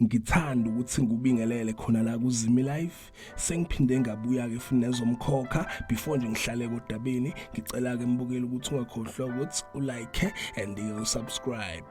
ngithanda ukuthi ngubingelele khona la kuzimi life sengiphinde ngabuya ke futhi nezomkhokha before nje ngihlale kodabeni ngicela ke mbukeli ukuthi ungakhohlwa ukuthi ulike and you subscribe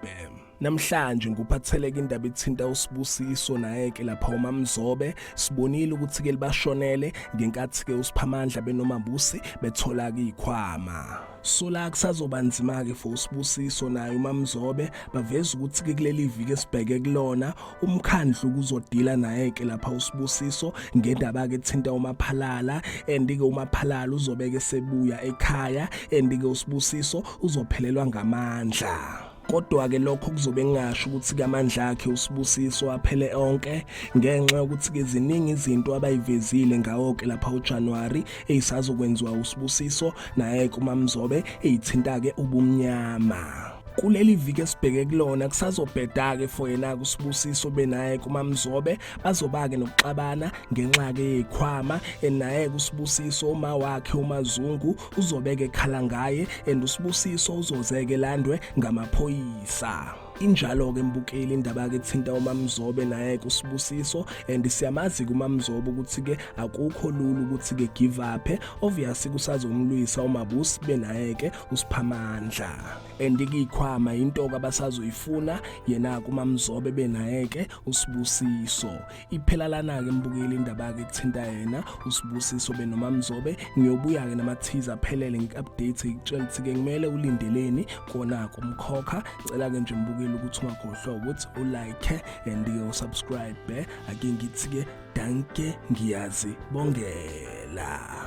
Namhlanje nguphatheleke indaba ethinta uSibusiso naye-ke lapha uMamzobe sibonile ukuthi-ke libashonele ngenkathi-ke uSiphamandla benomambusi bethola-ke ikhwama sola kusazoba nzima-ke for usibusiso naye umamzobe baveza ukuthi-ke kuleli viki esibheke kulona umkhandlu kuzodila naye-ke lapha usibusiso ngendaba-ke ethinta umaphalala and-ke umaphalala uzobeke sebuya ekhaya and-ke usibusiso uzophelelwa ngamandla Kodwa-ke lokho kuzobe kungasho ukuthi kamandla akhe usibusiso aphele onke ngenxa yokuthi-ke ziningi izinto abayivezile ngawo-ke lapha uJanuwari eyisazokwenziwa usibusiso naye-ke umamzobe eyithinta-ke ubumnyama kuleli viki esibheke kulona kusazobheda-ke for yena-ke usibusiso benaye kumamzobe bazoba-ke nokuxabana ngenxa-ke yeyikhwama enaye-ke usibusiso uma wakhe umazungu uzobeke ekhala ngaye and usibusiso uzozeke landwe ngamaphoyisa injalo-ke mbukeli indaba-ke ethinta umamzobe naye-ke usibusiso and siyamazi-ke umamzobe ukuthi-ke akukho lula ukuthi-ke give uphe obviously kusazomlwisa umabusi benaye-ke usiphamandla and ikiyikhwama yinto-ke abasazoyifuna yena-ke umamzobe benaye-ke usibusiso iphela lana-ke mbukeli indaba-ke kuthinta yena usibusiso benomamzobe ngiyobuya-ke namathiza aphelele ngi-update ngikutshela ukuthi-ke kumele ulindeleni kona-ke umkhokha cela-ke nje mbukeli ukuthi ungakhohlwa ukuthi ulike and-ke usubscribe ake ngithi-ke danke ngiyazi bongela